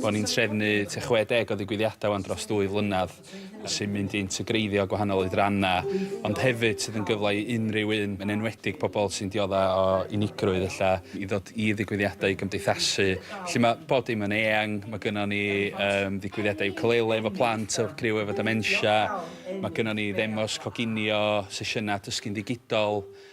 Bo' ni'n trefnu tua 60 o ddigwyddiadau 'wan dros ddwy flynedd sy'n mynd i integreiddio gwahanol oedrannau ond hefyd sydd yn gyfle i unrhyw un, yn enwedig pobl sy'n dioddef o unigrwydd ella, i ddod i ddigwyddiadau i gymdeithasu. Felly ma' bob dim yn eang, ma' gynnon ni yym ddigwyddiadau iwcalele efo plant a criw efo dementia, ma' gynnon ni ddemos coginio, sesiynau dysgu'n ddigidol,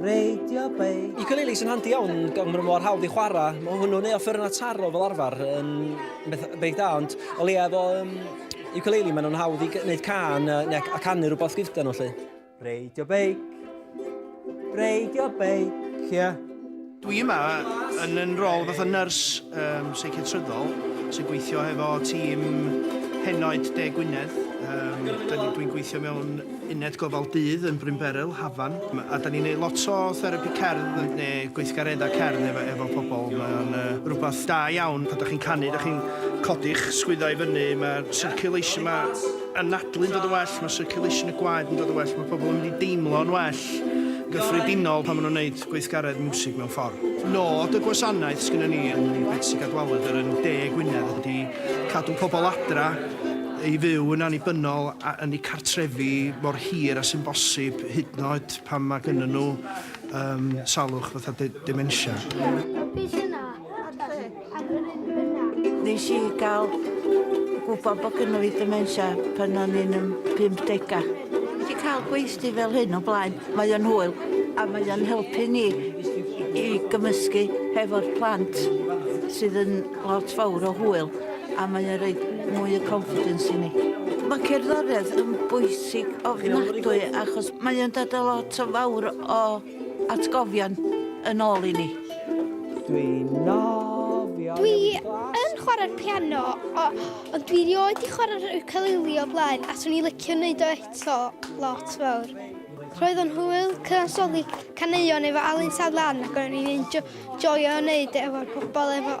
Radio Bay. Ukulele sy'n handi iawn, gan bod mor hawdd i chwarae. Mae hwnnw'n ei offer yna taro fel arfer yn beth da, ond o leia efo um, ukulele maen nhw'n hawdd i wneud can neu a canu rhywbeth gyda nhw lle. Radio Bake. Radio Bake, ie. Yeah. Dwi yma yn yn rôl fath o nyrs um, seiciatryddol sy'n gweithio hefo tîm henoed De Gwynedd. Um, Dwi'n gweithio mewn uned gofal dydd yn Brynberel, Hafan, a da ni'n neud lot o therapi cerdd neu gweithgareddau cerdd efo, efo pobl. Mae'n uh, rhywbeth da iawn pan da chi'n canu, da chi'n codi'ch sgwyddau fyny, mae'r circulation, mae anadlu'n dod yn well, mae circulation y gwaed yn dod yn well, mae pobl yn mynd i deimlo'n well gyffredinol pan maen nhw'n neud gweithgaredd miwsig mewn ffordd. Nod y gwasanaeth sgynnon ni yn Betsi Cadwaladr yn De Gwynedd ydi cadw pobl adra i fyw yn annibynnol a yn eu cartrefi mor hir a sy'n bosib hyd yn oed pan mae gynnyn nhw yym salwch fatha de- dementia. Nes i gael gwybod bod gynnu fi dementia pan o'n i'n yn 50 Wedi cael gweithdy fel hyn o blaen, mae o'n hwyl a mae o'n helpu ni i gymysgu hefo'r plant sydd yn lot fawr o hwyl a mae o'n rhaid mwy o confidence i ni. Mae cerddoriaeth yn bwysig ofnadwy achos mae o'n dod â lot o fawr o atgofion yn ôl i ni. Dwi'n nofio Dwi yn chwarae'r piano, o, ond dwi rioed i chwarae'r ukulele o blaen, a swn i licio wneud o eto lot fawr. Roedd o'n hwyl cyfansoddi caneuon efo Alun Sadlan ac o'n i'n joio wneud e efo'r pobl efo